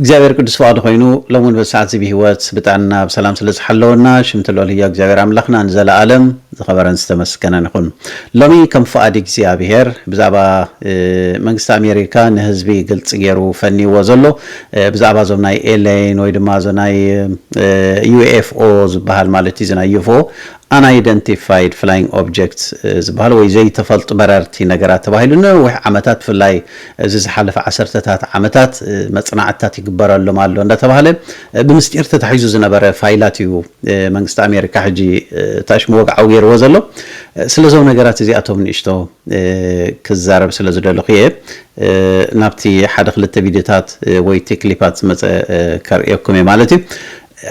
እግዚኣብሔር ቅዱስ ፍቃዱ ኮይኑ ሎሚ እውን በዚ ሰዓት እዚ ብሂወት ብጥዕና ብሰላም ስለ ዝሓለወና ሽምቲ ልዑል ህያው እግዚኣብሔር ኣምላክና ንዘለኣለም ዝከበረን ዝተመስገነን ይኩን ሎሚ ከም ፍቃድ እግዚኣብሔር ብዛዕባ መንግስቲ ኣሜሪካ ንህዝቢ ግልፂ ገይሩ ፈኒይዎ ዘሎ ብዛዕባ እዞም ናይ ኤለይን ወይ ድማ እዚ ናይ ዩኤፍኦ ዝበሃል ማለት እዩ እዚ ናይ ዩፎ Unidentified Flying Objects ዝበሃል ወይ ዘይተፈልጡ በረርቲ ነገራት ተባሂሉ ንነዊሕ ዓመታት ብፍላይ እዚ ዝሓለፈ ዓሰርተታት ዓመታት መጽናዕትታት ይግበረሎም ኣሎ እንዳተባህለ ብምስጢር ተታሒዙ ዝነበረ ፋይላት እዩ መንግስቲ ኣሜሪካ ሕጂ ታሽሙ ወግዓዊ ጌርዎ ዘሎ ስለዞም ነገራት እዚኣቶም ንእሽቶ ክዛረብ ስለ ዝደለኹ እየ ናብቲ ሓደ ክልተ ቪድዮታት ወይ'ቲ ክሊፓት ዝመጸ ከርእየኩም እየ ማለት እዩ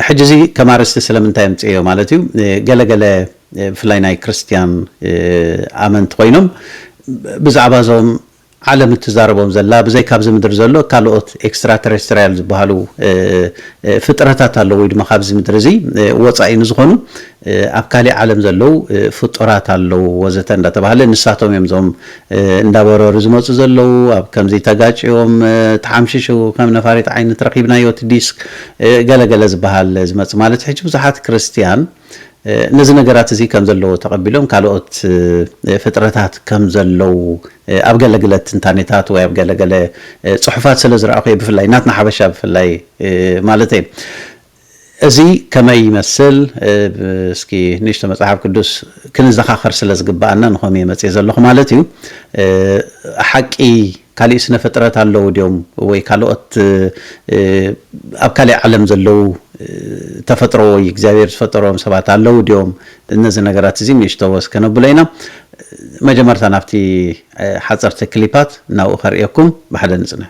ሕጂ እዚ ከም ኣርእስቲ ስለምንታይ ኣምጽኤዮ ማለት እዩ ገለ ገለ ብፍላይ ናይ ክርስትያን ኣመንቲ ኮይኖም ብዛዕባ እዞም ዓለም እትዛረቦም ዘላ ብዘይካ ኣብዚ ምድሪ ዘሎ ካልኦት ኤክስትራ ተረስትርያል ዝበሃሉ ፍጥረታት ኣለዉ ወይ ድማ ካብዚ ምድሪ እዚ ወጻኢ ንዝኾኑ ኣብ ካሊእ ዓለም ዘለው ፍጡራት ኣለው ወዘተ እንዳተባህለ ንሳቶም እዮም እዞም እንዳበረሩ ዝመፁ ዘለው ኣብ ከምዚ ተጋጭዮም ተሓምሽሹ ከም ነፋሪት ዓይነት ረኪብናዮ እቲ ዲስክ ገለ ገለ ዝባሃል ዝመፅ ማለት ሕጂ ብዙሓት ክርስትያን ነዚ ነገራት እዚ ከም ዘለዎ ተቀቢሎም ካልኦት ፍጥረታት ከም ዘለው ኣብ ገለ ግለ ትንታኔታት ወይ ኣብ ገለ ገለ ፅሑፋት ስለ ዝረኣኩ እየ ብፍላይ ናትና ሓበሻ ብፍላይ ማለተይ እዚ ከመይ ይመስል? እስኪ ንእሽቶ መጽሓፍ ቅዱስ ክንዘኻኸር ስለ ዝግብኣና ንኸምኡ እየ መጺኤ ዘለኹ ማለት እዩ። ሓቂ ካሊእ ስነ ፍጥረት ኣለዉ ድዮም ወይ ካልኦት ኣብ ካሊእ ዓለም ዘለዉ ተፈጥሮ ወይ እግዚኣብሔር ዝፈጠሮም ሰባት ኣለዉ ድዮም? ነዚ ነገራት እዚ ንእሽቶ ወስ ከነብሎ ኢና። መጀመርታ ናብቲ ሓጸርቲ ክሊፓት ናብኡ ከርእየኩም ብሓደ ንጽናሕ።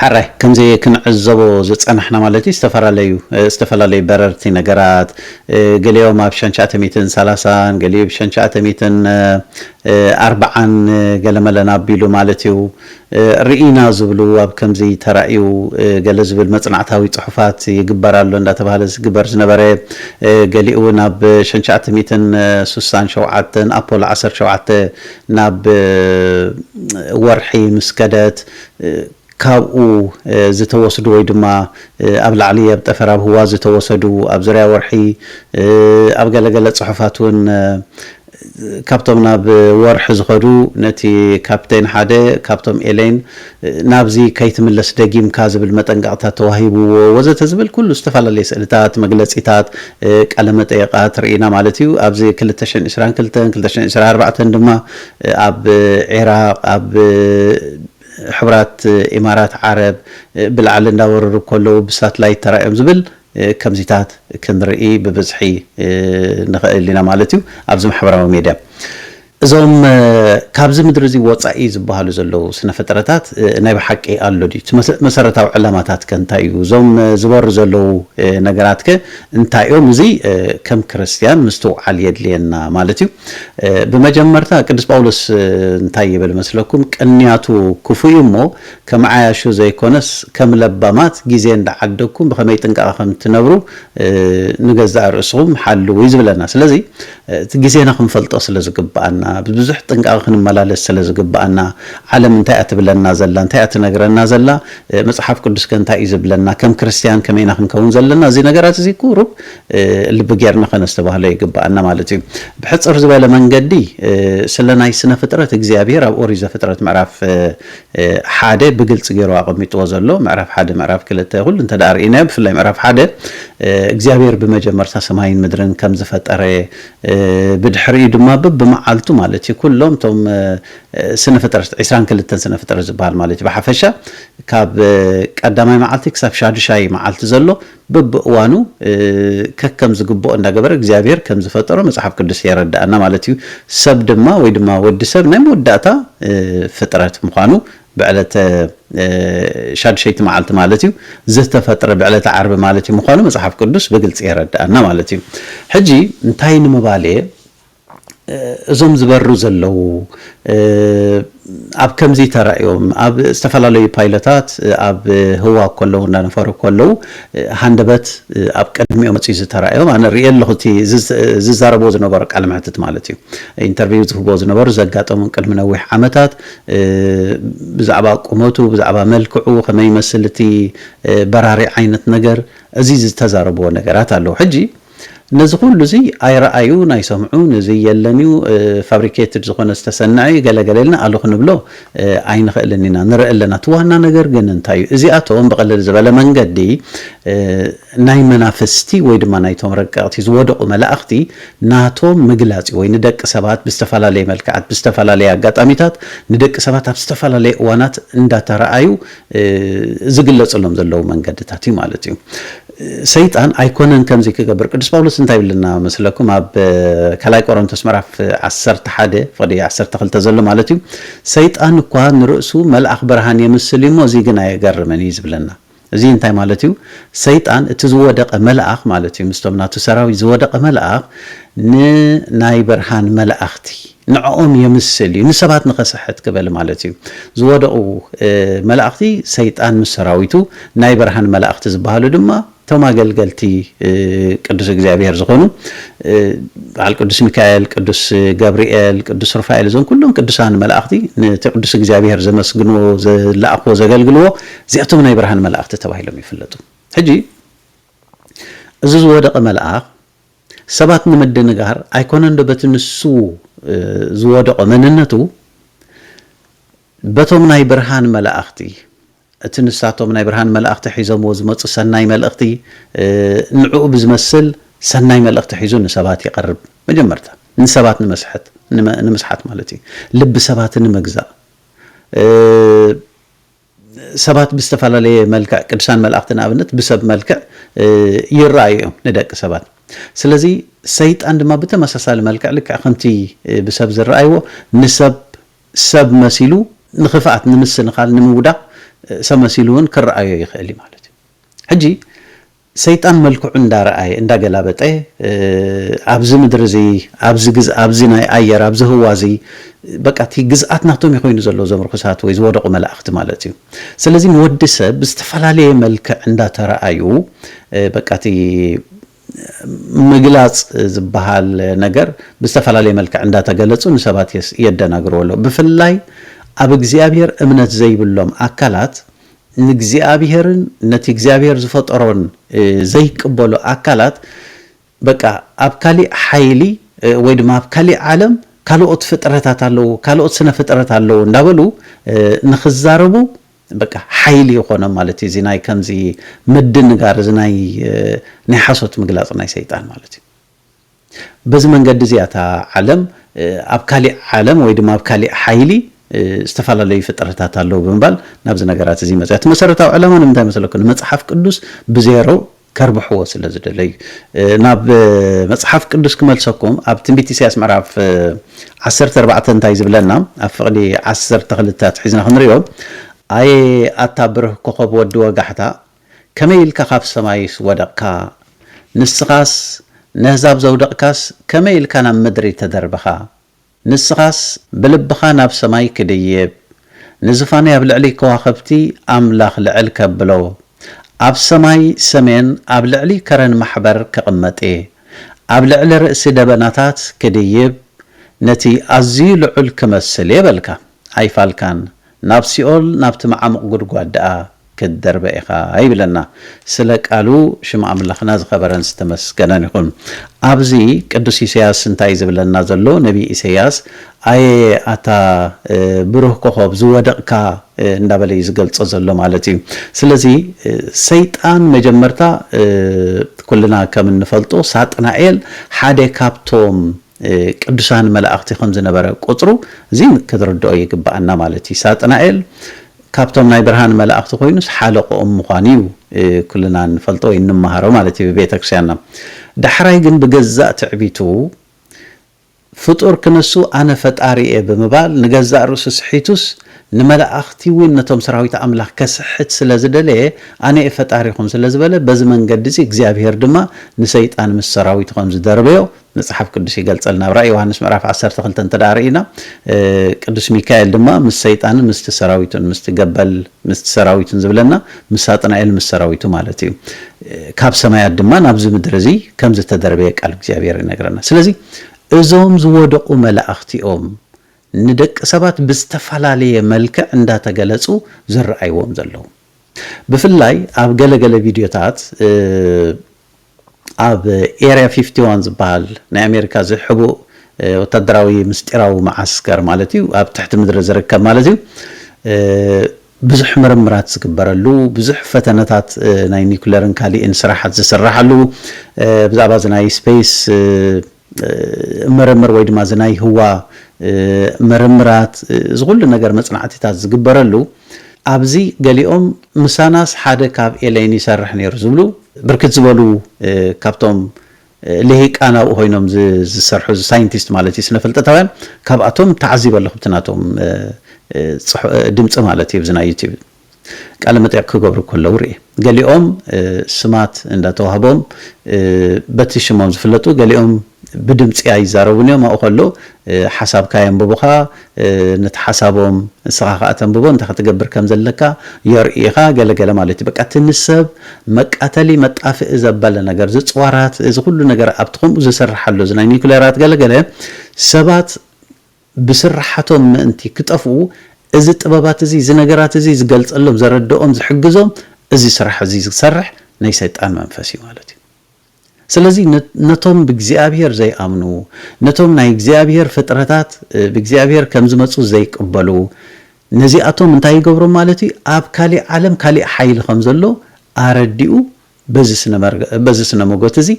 ሕረ ከምዚ ክንዕዘቦ ዝጸናሕና ማለት ዝተፈላለዩ ዝተፈላለዩ በረርቲ ነገራት ገሊኦም ኣብ ሽሕን ትሽዓተ ሚእትን ሰላሳን ገሊኡ ብ ሽሕን ትሽዓተ ሚእትን ኣርብዓን ገለ መለ ናቢሉ ማለት እዩ ርኢና ዝብሉ ኣብ ከምዚ ተራእዩ ገለ ዝብል መጽናዕታዊ ጽሑፋት ይግበር ኣሎ እንዳተባህለ ዝግበር ዝነበረ ገሊኡ ውን ኣብ ሽሕን ትሽዓተ ሚእትን ስሳን ሸውዓተን ኣፖሎ ዓሰርተ ሸውዓተ ናብ ወርሒ ምስ ከደት ካብኡ ዝተወስዱ ወይ ድማ ኣብ ላዕሊ ኣብ ጠፈር ኣብ ህዋ ዝተወሰዱ ኣብ ዙርያ ወርሒ ኣብ ገለ ገለ ጽሑፋት ውን ካብቶም ናብ ወርሒ ዝኸዱ ነቲ ካፕቴን ሓደ ካብቶም ኤለይን ናብዚ ከይትምለስ ደጊምካ ዝብል መጠንቀቕታ ተዋሂብዎ ወዘተ ዝብል ኩሉ ዝተፈላለየ ስእልታት መግለጺታት ቃለ መጠየቓት ርኢና ማለት እዩ ኣብዚ ክልተ ሽሕን ዕስራን ክልተን ክልተ ሽሕን ዕስራን ኣርባዕተን ድማ ኣብ ዒራቕ፣ ኣብ ሕቡራት ኢማራት ዓረብ ብላዕሊ እንዳወረሩ ከለዉ ብሳትላይት ተራእዮም ዝብል ከምዚታት ክንርኢ ብብዝሒ ንኸእል ኢና ማለት እዩ ኣብዚ ማሕበራዊ ሜድያ። እዞም ካብዚ ምድሪ እዚ ወጻኢ ዝበሃሉ ዘለዉ ስነፍጥረታት ናይ ብሓቂ ኣሎ ድዩ? እቲ መሰረታዊ ዕላማታትከ እንታይ እዩ? እዞም ዝበሩ ዘለዉ ነገራትከ እንታይ እዮም? እዚ ከም ክርስትያን ምስትውዓል የድልየና ማለት እዩ። ብመጀመርታ ቅዱስ ጳውሎስ እንታይ ይብል መስለኩም ቅንያቱ ክፉእ እዩ እሞ ከም ዓያሹ ዘይኮነስ ከም ለባማት ግዜ እንዳዓደግኩም ብኸመይ ጥንቃቐ ከም ትነብሩ ንገዛእ ርእስኹም ሓልው እዩ ዝብለና ስለዚ እቲ ግዜና ክንፈልጦ ስለ ዝግብኣና ብብዙሕ ጥንቃቐ ክንመላለስ ስለ ዝግብኣና ዓለም እንታይ እያ ትብለና ዘላ እንታይ እያ ትነግረና ዘላ መጽሓፍ ቅዱስ ከ እንታይ እዩ ዝብለና ከም ክርስትያን ከመይና ክንከውን ዘለና እዚ ነገራት እዚ ቁሩብ ልቢ ጌርና ከነስተባህሎ ይግብኣና ማለት እዩ። ብሕጽር ዝበለ መንገዲ ስለ ናይ ስነ ፍጥረት እግዚኣብሄር ኣብ ኦሪት ዘፍጥረት ምዕራፍ ሓደ ብግልጺ ጌሩ ኣቐሚጥዎ ዘሎ ምዕራፍ ሓደ ምዕራፍ ክልተ ኩሉ እንተ ርኢናዮ ብፍላይ ምዕራፍ ሓደ እግዚኣብሄር ብመጀመርታ ሰማይን ምድርን ከም ዝፈጠረ ብድሕሪኡ ድማ ብብመዓልቱ ማለት እዩ ኩሎም እቶም ስነ ፍጥረት ዕስራን ክልተን ስነ ፍጥረት ዝበሃል ማለት እዩ ብሓፈሻ ካብ ቀዳማይ መዓልቲ ክሳብ ሻዱሻይ መዓልቲ ዘሎ በብእዋኑ ከከም ዝግብኦ እንዳገበረ እግዚኣብሄር ከም ዝፈጠሮ መጽሓፍ ቅዱስ የረድኣና ማለት እዩ። ሰብ ድማ ወይ ድማ ወዲ ሰብ ናይ መወዳእታ ፍጥረት ምዃኑ ብዕለተ ሻዱሸይቲ መዓልቲ ማለት እዩ ዝተፈጥረ ብዕለተ ዓርቢ ማለት እዩ ምዃኑ መጽሓፍ ቅዱስ ብግልጺ የረድኣና ማለት እዩ። ሕጂ እንታይ ንምባል እየ እዞም ዝበሩ ዘለዉ ኣብ ከምዚ ተራእዮም ኣብ ዝተፈላለዩ ፓይለታት ኣብ ህዋ ከለዉ እንዳነፈሩ ከለዉ ሃንደበት ኣብ ቅድሚኦም መጽዩ ዝተራእዮም ኣነ ርእየ ኣለኹ እቲ ዝዛረብዎ ዝነበሩ ቃለ መሕትት ማለት እዩ ኢንተርቪው ዝህብዎ ዝነበሩ ዘጋጠሞም ቅድሚ ነዊሕ ዓመታት ብዛዕባ ቁመቱ ብዛዕባ መልክዑ ከመይ ይመስል እቲ በራሪ ዓይነት ነገር እዚ ዝተዛረብዎ ነገራት ኣለዉ ሕጂ ነዚ ኩሉ እዚ ኣይረኣዩን ኣይሰምዑን እዚ የለን እዩ ፋብሪኬትድ ዝኾነ ዝተሰነዐ እዩ ገለ ገለ ኢልና ኣሉ ክንብሎ ኣይንኽእልን ኢና ንርኢ ኣለና እቲ ዋና ነገር ግን እንታይ እዩ እዚኣቶም ብቕልል ዝበለ መንገዲ ናይ መናፍስቲ ወይ ድማ ናይቶም ረቀቕቲ ዝወደቑ መላእኽቲ ናቶም ምግላጽ እዩ ወይ ንደቂ ሰባት ብዝተፈላለየ መልክዓት ብዝተፈላለየ ኣጋጣሚታት ንደቂ ሰባት ኣብ ዝተፈላለየ እዋናት እንዳተረኣዩ ዝግለጽሎም ዘለዉ መንገድታት እዩ ማለት እዩ። ሰይጣን ኣይኮነን ከምዚ ክገብር ቅዱስ ጳውሎስ እንታይ ይብለና መስለኩም ኣብ ካልኣይ ቆሮንቶስ ምዕራፍ ዓሰርተ ሓደ ፍቕዲ ዓሰርተ ክልተ ዘሎ ማለት እዩ ሰይጣን እኳ ንርእሱ መልኣኽ ብርሃን የምስል እዩ እሞ እዚ ግን ኣየገርምን እዩ ዝብለና እዚ እንታይ ማለት እዩ ሰይጣን እቲ ዝወደቐ መልኣኽ ማለት እዩ ምስቶም ናቱ ሰራዊት ዝወደቐ መልኣኽ ንናይ ብርሃን መላእኽቲ ንዕኦም የምስል እዩ ንሰባት ንኸስሕት ክበል ማለት እዩ ዝወደቑ መላእኽቲ ሰይጣን ምስ ሰራዊቱ ናይ ብርሃን መላእኽቲ ዝብሃሉ ድማ እቶም ኣገልገልቲ ቅዱስ እግዚኣብሔር ዝኾኑ በዓል ቅዱስ ሚካኤል ቅዱስ ገብርኤል ቅዱስ ሩፋኤል እዞም ኩሎም ቅዱሳን መላእኽቲ ነቲ ቅዱስ እግዚኣብሔር ዘመስግንዎ ዝለኣኽዎ ዘገልግልዎ እዚኣቶም ናይ ብርሃን መላእኽቲ ተባሂሎም ይፍለጡ ሕጂ እዚ ዝወደቐ መልኣኽ ሰባት ንምድንጋር ኣይኮነንዶ በቲ ንሱ ዝወደቖ መንነቱ፣ በቶም ናይ ብርሃን መላእኽቲ፣ እቲ ንሳቶም ናይ ብርሃን መላእኽቲ ሒዞምዎ ዝመጹ ሰናይ መልእኽቲ፣ ንዕኡ ብዝመስል ሰናይ መልእኽቲ ሒዙ ንሰባት ይቐርብ። መጀመርታ ንሰባት ንምስሐት ንምስሓት ማለት እዩ። ልቢ ሰባት ንምግዛእ። ሰባት ብዝተፈላለየ መልክዕ ቅዱሳን መላእኽቲ ንኣብነት ብሰብ መልክዕ ይረኣዩ እዮም ንደቂ ሰባት። ስለዚ ሰይጣን ድማ ብተመሳሳሊ መልክዕ ልክዕ ከምቲ ብሰብ ዝረኣይዎ ንሰብ ሰብ መሲሉ ንኽፍኣት ንምስንኻል ንምውዳቕ ሰብ መሲሉ እውን ክረኣዮ ይኽእል እዩ ማለት እዩ። ሕጂ ሰይጣን መልክዑ እንዳ ረኣየ እንዳ ገላበጠ ኣብዚ ምድሪ እዚ ኣብዚ ግዝ ኣብዚ ናይ ኣየር ኣብዚ ህዋ እዚ በቃ እቲ ግዝኣት ናቶም እዩ ኮይኑ ዘሎ እዞም ርኹሳት ወይ ዝወደቑ መላእኽቲ ማለት እዩ። ስለዚ ንወዲ ሰብ ብዝተፈላለየ መልክዕ እንዳ ተረኣዩ በቃ እቲ ምግላጽ ዝበሃል ነገር ብዝተፈላለየ መልክዕ እንዳ ተገለጹ ንሰባት የደናግርዎ ኣሎ። ብፍላይ ኣብ እግዚኣብሔር እምነት ዘይብሎም ኣካላት ንእግዚኣብሔርን ነቲ እግዚኣብሔር ዝፈጠሮን ዘይቅበሉ ኣካላት በቃ ኣብ ካሊእ ሓይሊ ወይ ድማ ኣብ ካሊእ ዓለም ካልኦት ፍጥረታት ኣለዉ ካልኦት ስነ ፍጥረት ኣለዉ እንዳበሉ ንክዛረቡ በቃ ሓይሊ ይኾኖም ማለት እዩ እዚ ናይ ከምዚ ምድንጋር እዚ ናይ ናይ ሓሶት ምግላጽ ናይ ሰይጣን ማለት እዩ በዚ መንገዲ እዚ እያ እታ ዓለም ኣብ ካሊእ ዓለም ወይ ድማ ኣብ ካሊእ ሓይሊ ዝተፈላለዩ ፍጥረታት ኣለዉ ብምባል ናብዚ ነገራት እዚ መፅያ። እቲ መሰረታዊ ዕላማ ንምንታይ መሰለኩ ንመፅሓፍ ቅዱስ ብዜሮ ከርብሕዎ ስለ ዝደለዩ እዩ። ናብ መፅሓፍ ቅዱስ ክመልሰኩም ኣብ ትንቢት ኢሳያስ ምዕራፍ ዓሰርተ ኣርባዕተ እንታይ ዝብለና ኣብ ፍቕዲ ዓሰርተ ክልተ ኣትሒዝና ክንሪኦ ኣየ ኣታ ብርህ ኮኾብ ወዲ ወጋሕታ ከመይ ኢልካ ካብ ሰማይስ ወደቕካ ንስኻስ ነህዛብ ዘውደቕካስ ከመይ ኢልካ ናብ ምድሪ ተደርብኻ ንስኻስ ብልብኻ ናብ ሰማይ ክድይብ ንዝፋነይ ኣብ ልዕሊ ከዋኽብቲ ኣምላኽ ልዕል ከብሎ ኣብ ሰማይ ሰሜን ኣብ ልዕሊ ከረን ማሕበር ክቕመጥየ ኣብ ልዕሊ ርእሲ ደበናታት ክድይብ ነቲ ኣዝዩ ልዑል ክመስልየ በልካ ኣይፋልካን ናብ ሲኦል ናብቲ መዓሙቕ ጉድጓድ ደኣ ክትደርበ ኢኻ ይብለና ስለ ቃሉ ሽም ኣምላኽና ዝኸበረን ዝተመስገነን ይኹን ኣብዚ ቅዱስ ኢሰያስ እንታይ እዩ ዝብለና ዘሎ ነብይ ኢሰያስ ኣየ ኣታ ብሩህ ኮኾብ ዝወደቕካ እንዳበለ እዩ ዝገልጾ ዘሎ ማለት እዩ ስለዚ ሰይጣን መጀመርታ ኩልና ከም እንፈልጦ ሳጥናኤል ሓደ ካብቶም ቅዱሳን መላእኽቲ ከም ዝነበረ ቁጽሩ እዚ ክትርድኦ ይግብኣና ማለት እዩ። ሳጥናኤል ካብቶም ናይ ብርሃን መላእኽቲ ኮይኑስ ሓለቆኦም ምዃኑ እዩ ኩልና እንፈልጦ ወይ እንመሃሮ ማለት እዩ ብቤተክርስቲያንና። ዳሕራይ ግን ብገዛእ ትዕቢቱ ፍጡር ክነሱ ኣነ ፈጣሪ እየ ብምባል ንገዛእ ርእሱ ስሒቱስ ንመላእኽቲ እውን ነቶም ሰራዊት ኣምላኽ ከስሕት ስለ ዝደለየ ኣነ እየ ፈጣሪኹም ስለ ዝበለ በዚ መንገዲ እዚ እግዚኣብሔር ድማ ንሰይጣን ምስ ሰራዊቱ ከም ዝደርበዮ መጽሓፍ ቅዱስ ይገልጸልና። ኣብ ራእይ ዮሃንስ ምዕራፍ ዓሰርተ ክልተ እንተደኣ ርኢና ቅዱስ ሚካኤል ድማ ምስ ሰይጣንን ምስቲ ሰራዊቱን ምስቲ ገበል ምስቲ ሰራዊቱን ዝብለና ምስ ሳጥናኤል ምስ ሰራዊቱ ማለት እዩ ካብ ሰማያት ድማ ናብዚ ምድሪ እዚ ከም ዝተደርበየ ቃል እግዚኣብሔር ይነግረና። ስለዚ እዞም ዝወደቑ መላእኽቲኦም ንደቂ ሰባት ብዝተፈላለየ መልክዕ እንዳተገለጹ ዝረኣይዎም ዘለዉ። ብፍላይ ኣብ ገለገለ ቪድዮታት ኣብ ኤርያ ፊፍቲ ዋን ዝበሃል ናይ ኣሜሪካ እዚ ሕቡእ ወታደራዊ ምስጢራዊ መዓስከር ማለት እዩ፣ ኣብ ትሕቲ ምድሪ ዝርከብ ማለት እዩ፣ ብዙሕ ምርምራት ዝግበረሉ፣ ብዙሕ ፈተነታት ናይ ኒኩለርን ካሊእን ስራሓት ዝስራሓሉ፣ ብዛዕባ እዚ ናይ ስፔስ፣ ምርምር ወይ ድማ እዚ ናይ ህዋ ምርምራት እዚ ኩሉ ነገር መጽናዕቲታት ዝግበረሉ ኣብዚ ገሊኦም ምሳናስ ሓደ ካብ ኤለይን ይሰርሕ ነይሩ ዝብሉ ብርክት ዝበሉ ካብቶም ልሂቃን ኣብኡ ኮይኖም ዝሰርሑ ሳይንቲስት ማለት እዩ ስነፍልጠታውያን ካብኣቶም ተዓዚበ ኣለኹ ብቲ ናቶም ድምጺ ማለት እዩ ብዚ ናይ ዩቲብ ቃለ መጠይቕ ክገብሩ ከለዉ ርእየ። ገሊኦም ስማት እንዳተዋህቦም በቲ ሽሞም ዝፍለጡ፣ ገሊኦም ብድምጺ ኣይዛረቡን እዮም፣ ኣብኡ ከሎ ሓሳብካ የንብቡኻ፣ ነቲ ሓሳቦም ንስኻ ከኣ ተንብቦ፣ እንታይ ክትገብር ከም ዘለካ የርእዩኻ፣ ገለ ገለ ማለት እዩ። በቃ እቲ ንሰብ መቃተሊ መጣፍኢ ዘበለ ነገር፣ እዚ ጽዋራት እዚ ኩሉ ነገር ኣብቲ ከምኡ ዝስራሕ ኣሎ፣ እዚ ናይ ኒኩሌራት ገለ ገለ ሰባት ብስርሓቶም ምእንቲ ክጠፍኡ፣ እዚ ጥበባት እዚ፣ እዚ ነገራት እዚ ዝገልጸሎም፣ ዘረድኦም፣ ዝሕግዞም እዚ ስራሕ እዚ ዝሰርሕ ናይ ሰይጣን መንፈስ እዩ ማለት እዩ። ስለዚ ነቶም ብእግዚኣብሄር ዘይኣምኑ፣ ነቶም ናይ እግዚኣብሄር ፍጥረታት ብእግዚኣብሄር ከም ዝመጹ ዘይቅበሉ፣ ነዚኣቶም እንታይ ይገብሮም ማለት እዩ፣ ኣብ ካሊእ ዓለም ካሊእ ሓይሊ ከም ዘሎ ኣረዲኡ በዚ ስነ መጎት እዚ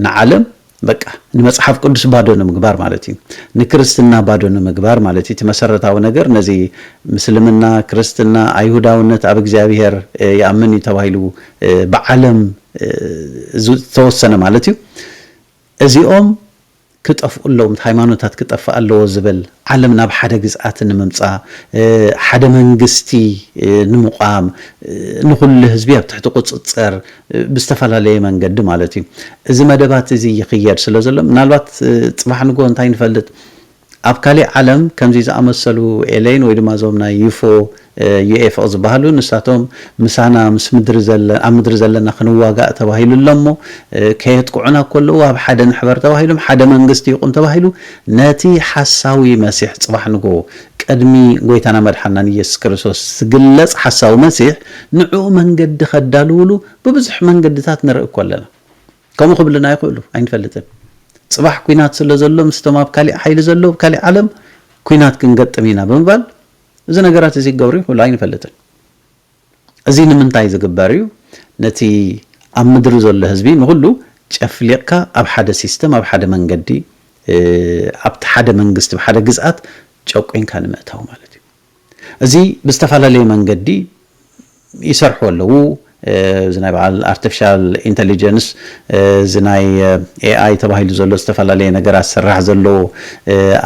ንዓለም በቃ ንመጽሓፍ ቅዱስ ባዶ ንምግባር ማለት እዩ ንክርስትና ባዶ ንምግባር ማለት እቲ መሰረታዊ ነገር ነዚ ምስልምና ክርስትና ኣይሁዳውነት ኣብ እግዚኣብሔር ይኣምን እዩ ተባሂሉ ብዓለም ዝተወሰነ ማለት እዩ እዚኦም ክጠፍኡ ኣለዎም፣ እቲ ሃይማኖታት ክጠፍእ ኣለዎ ዝብል፣ ዓለም ናብ ሓደ ግዝኣት ንምምጻ፣ ሓደ መንግስቲ ንምቛም፣ ንኹሉ ህዝቢ ኣብ ትሕቲ ቁጽጽር ብዝተፈላለየ መንገዲ ማለት እዩ፣ እዚ መደባት እዚ ይኽየድ ስለዘሎ፣ ምናልባት ጽባሕ ንግሆ እንታይ ንፈልጥ፣ ኣብ ካሊእ ዓለም ከምዚ ዝኣመሰሉ ኤለይን ወይ ድማ እዞም ናይ ዩፎ፣ ዩኤፍኦ ዝበሃሉ ንሳቶም ምሳና ምስ ምድሪ ዘለ ኣብ ምድሪ ዘለና ክንዋጋእ ተባሂሉ ኣሎ እሞ ከየጥቅዑና ከለዉ ኣብ ሓደ ንሕበር ተባሂሎም ሓደ መንግስቲ ይቁም ተባሂሉ ነቲ ሓሳዊ መሲሕ ጽባሕ ንግሆ ቅድሚ ጎይታና መድሓንናን ኢየሱስ ክርስቶስ ዝግለጽ ሓሳዊ መሲሕ ንዕኡ መንገዲ ከዳልዉሉ ብብዙሕ መንገድታት ንርኢ እኮ ኣለና ከምኡ ክብልና ይኽእሉ ኣይንፈልጥን ጽባሕ ኩናት ስለ ዘሎ ምስቶም ኣብ ካሊእ ሓይሊ ዘለዉ ካሊእ ዓለም ኩናት ክንገጥም ኢና ብምባል እዚ ነገራት እዚ ክገብሩ ይኽእሉ ኣይንፈልጥን። እዚ ንምንታይ ዝግበር እዩ? ነቲ ኣብ ምድሪ ዘሎ ህዝቢ ንኹሉ ጨፍሊቕካ ኣብ ሓደ ሲስተም ኣብ ሓደ መንገዲ ኣብቲ ሓደ መንግስቲ ኣብ ሓደ ግዝኣት ጨቊንካ ንምእታው ማለት እዩ። እዚ ብዝተፈላለየ መንገዲ ይሰርሑ ኣለዉ እዚ ናይ በዓል ኣርተፍሻል ኢንተሊጀንስ እዚ ናይ AI ተባሂሉ ዘሎ ዝተፈላለየ ነገራት ዝስራሕ ዘሎ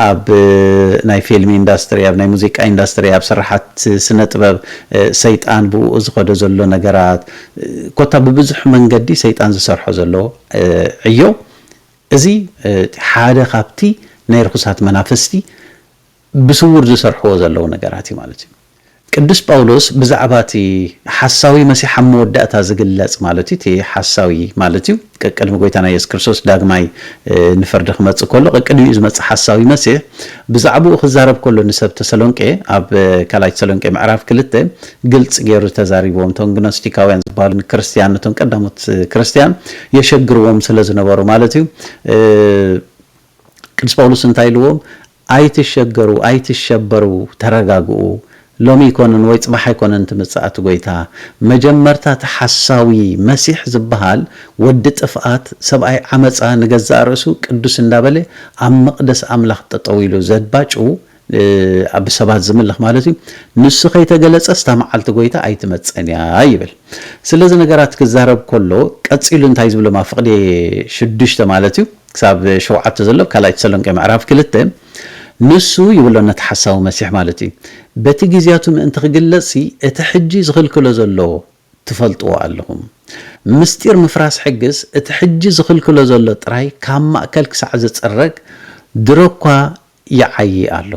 ኣብ ናይ ፊልም ኢንዳስትሪ ኣብ ናይ ሙዚቃ ኢንዳስትሪ ኣብ ስራሓት ስነ ጥበብ ሰይጣን ብኡኡ ዝኸዶ ዘሎ ነገራት ኮታ ብብዙሕ መንገዲ ሰይጣን ዝሰርሖ ዘሎ ዕዮ እዚ ሓደ ካብቲ ናይ ርኹሳት መናፍስቲ ብስዉር ዝሰርሕዎ ዘለዉ ነገራት እዩ ማለት እዩ። ቅዱስ ጳውሎስ ብዛዕባ እቲ ሓሳዊ መሲሕ ኣብ መወዳእታ ዝግለጽ ማለት እዩ፣ እቲ ሓሳዊ ማለት እዩ ቀቅድሚ ጐይታና የሱስ ክርስቶስ ዳግማይ ንፍርዲ ክመጽእ ከሎ ቀቅድሚኡ ዝመጽእ ሓሳዊ መሲሕ ብዛዕባኡ ክዛረብ ከሎ ንሰብ ተሰሎንቄ ኣብ ካልኣይ ተሰሎንቄ ምዕራፍ ክልተ ግልጽ ገይሩ ተዛሪብዎም እቶም ግኖስቲካውያን ዝበሃሉ ንክርስትያን ነቶም ቀዳሞት ክርስትያን የሸግርዎም ስለ ዝነበሩ ማለት እዩ ቅዱስ ጳውሎስ እንታይ ኢልዎም ኣይትሸገሩ ኣይትሸበሩ ተረጋግኡ ሎሚ ኣይኮነን ወይ ጽባሕ ኣይኮነን ትምጽእ ኣቲ ጎይታ መጀመርታ እቲ ሓሳዊ መሲሕ ዝብሃል ወዲ ጥፍኣት ሰብኣይ ዓመጻ ንገዛእ ርእሱ ቅዱስ እንዳበለ ኣብ መቅደስ ኣምላኽ ጠጠው ኢሉ ዘባጩ ብሰባት ዝምልኽ ማለት እዩ ንሱ ከይተገለጸስ እታ መዓልቲ ጎይታ ኣይትመጽእን እያ ይብል ስለዚ ነገራት ክዛረብ ኮሎ ቀጺሉ እንታይ ዝብሎም ኣብ ፍቅዴ ሽዱሽተ ማለት እዩ ክሳብ ሸውዓተ ዘሎ ካልኣይ ተሰሎንቄ ምዕራፍ ክልተ ንሱ ይብሎ ነቲ ሓሳዊ መሲሕ ማለት እዩ በቲ ግዜያቱ ምእንቲ ክግለጽሲ እቲ ሕጂ ዝኽልክሎ ዘሎ ትፈልጥዎ ኣለኹም ምስጢር ምፍራስ ሕግስ እቲ ሕጂ ዝኽልክሎ ዘሎ ጥራይ ካብ ማእከል ክሳዕ ዝጽረግ ድሮኳ ይዓዪ ኣሎ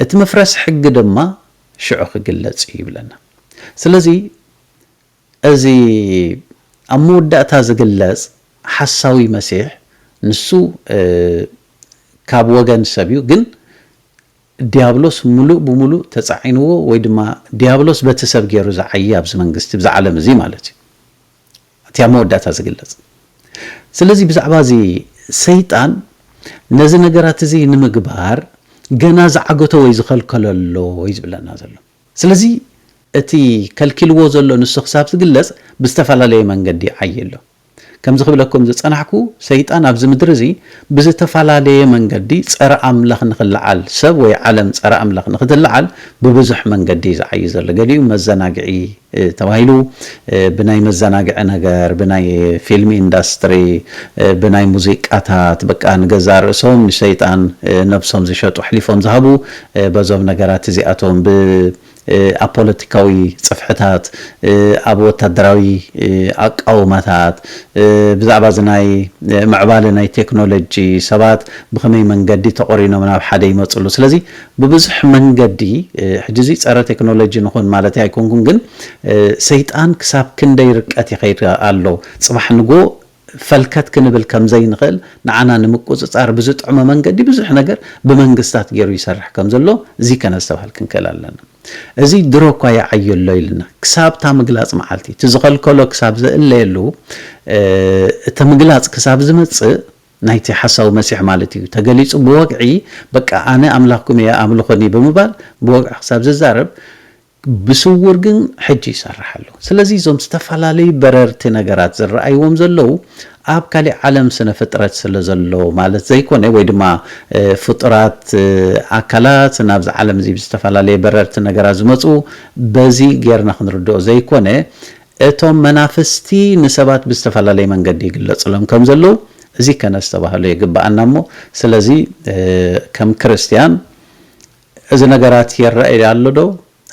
እቲ ምፍረስ ሕጊ ድማ ሽዑ ክግለጽ እዩ ይብለና ስለዚ እዚ ኣብ መወዳእታ ዝግለጽ ሓሳዊ መሲሕ ንሱ ካብ ወገን ሰብ እዩ ግን ድያብሎስ ምሉእ ብምሉእ ተጻዒንዎ ወይ ድማ ድያብሎስ በቲ ሰብ ጌሩ ዝዓዪ ኣብዚ መንግስቲ ብዚ ዓለም እዚ ማለት እዩ እቲ ኣብ መወዳእታ ዝግለጽ ስለዚ ብዛዕባ እዚ ሰይጣን ነዚ ነገራት እዚ ንምግባር ገና ዝዓገቶ ወይ ዝኸልከሎ ኣሎ እዩ ዝብለና ዘሎ። ስለዚ እቲ ከልኪልዎ ዘሎ ንሱ ክሳብ ዝግለጽ ብዝተፈላለየ መንገዲ ይዓዪ ኣሎ። ከምዚ ክብለኩም ዝጸናሕኩ ሰይጣን ኣብዚ ምድሪ እዚ ብዝተፈላለየ መንገዲ ጸረ ኣምላኽ ንኽለዓል ሰብ ወይ ዓለም ጸረ ኣምላኽ ንኽትለዓል ብብዙሕ መንገዲ እዩ ዝዓዪ ዘሎ። ገሊኡ መዘናግዒ ተባሂሉ ብናይ መዘናግዒ ነገር ብናይ ፊልም ኢንዳስትሪ ብናይ ሙዚቃታት በቃ ንገዛእ ርእሶም ንሰይጣን ነብሶም ዝሸጡ ኣሕሊፎም ዝሃቡ በዞም ነገራት እዚኣቶም፣ ብ ኣብ ፖለቲካዊ ጽፍሕታት፣ ኣብ ወታደራዊ ኣቃውማታት፣ ብዛዕባ እዚ ናይ ምዕባለ ናይ ቴክኖሎጂ፣ ሰባት ብኸመይ መንገዲ ተቖሪኖም ናብ ሓደ ይመጽሉ። ስለዚ ብብዙሕ መንገዲ፣ ሕጂ እዚ ጸረ ቴክኖሎጂ ንኹን ማለተይ ኣይኮንኩን፣ ግን ሰይጣን ክሳብ ክንደይ ርቀት ይኸይድ ኣሎ፣ ጽባሕ ንግሆ ፈልከት ክንብል ከም ዘይንኽእል ንዓና ንምቁጽጻር ብዝጥዕሞ መንገዲ ብዙሕ ነገር ብመንግስታት ጌሩ ይሰርሕ ከም ዘሎ ዚከ ነስተብሃል ክንክእል ኣለና። እዚ ድሮ እኳ ይዓዩ ኣሎ ኢልና ክሳብ እታ ምግላጽ መዓልቲ እቲ ዝኸልከሎ ክሳብ ዝእለየሉ እቲ ምግላጽ ክሳብ ዝመጽእ ናይቲ ሓሳዊ መሲሕ ማለት ኢዩ ተገሊጹ ብወግዒ በቃ ኣነ ኣምላኽኩም ኢየ ኣምልኹኒ ብምባል ብወግዒ ክሳብ ዝዛረብ ብስዉር ግን ሕጂ ይሰርሕ ኣሎ። ስለዚ እዞም ዝተፈላለዩ በረርቲ ነገራት ዝረኣይዎም ዘለዉ ኣብ ካሊእ ዓለም ስነ ፍጥረት ስለ ዘሎ ማለት ዘይኮነ ወይ ድማ ፍጡራት ኣካላት ናብዚ ዓለም እዚ ብዝተፈላለየ በረርቲ ነገራት ዝመጹ በዚ ጌርና ክንርድኦ ዘይኮነ እቶም መናፍስቲ ንሰባት ብዝተፈላለየ መንገዲ ይግለጽሎም ከም ዘለዉ እዚ ከነስተባህሎ የግብኣና እሞ ስለዚ ከም ክርስትያን እዚ ነገራት ይረኣይ ኣሎ ዶ?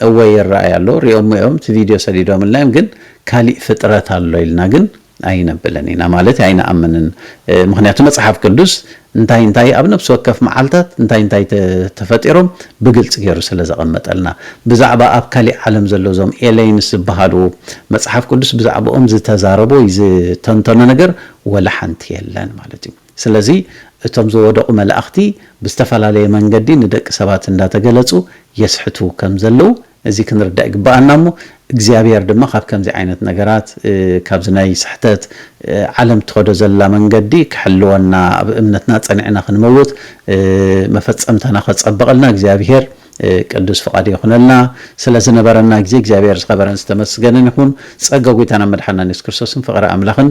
እወ ይረኣይ ኣሎ፣ ሪኦሞ እዮም እቲ ቪድዮ ሰዲዶምልና እዮም ግን ካሊእ ፍጥረት ኣሎ ኢልና ግን ኣይነብልን ኢና ማለት ኣይንኣምንን ምኽንያቱ መጽሓፍ ቅዱስ እንታይ እንታይ ኣብ ነብሲ ወከፍ መዓልታት እንታይ እንታይ ተፈጢሮም ብግልጺ ገይሩ ስለ ዘቐመጠልና ብዛዕባ ኣብ ካሊእ ዓለም ዘሎ እዞም ኤለይንስ ዝበሃሉ መጽሓፍ ቅዱስ ብዛዕብኦም ዝተዛረቦ ዝተንተኖ ነገር ወላ ሓንቲ የለን ማለት እዩ ስለዚ እቶም ዝወደቑ መላእኽቲ ብዝተፈላለየ መንገዲ ንደቂ ሰባት እንዳተገለጹ የስሕቱ ከም ዘለዉ እዚ ክንርዳእ ይግበኣና እሞ እግዚኣብሔር ድማ ካብ ከምዚ ዓይነት ነገራት ካብዚ ናይ ስሕተት ዓለም ትኸዶ ዘላ መንገዲ ክሕልወና ኣብ እምነትና ጸኒዕና ክንመውት መፈጸምታና ከጸብቐልና እግዚኣብሔር ቅዱስ ፍቓዱ ይኹነልና ስለ ዝነበረና ግዜ እግዚኣብሔር ዝኸበረን ዝተመስገነን ይኹን ጸጋ ጎይታናን መድሓንናን የሱስ ክርስቶስን ፍቕሪ ኣምላኽን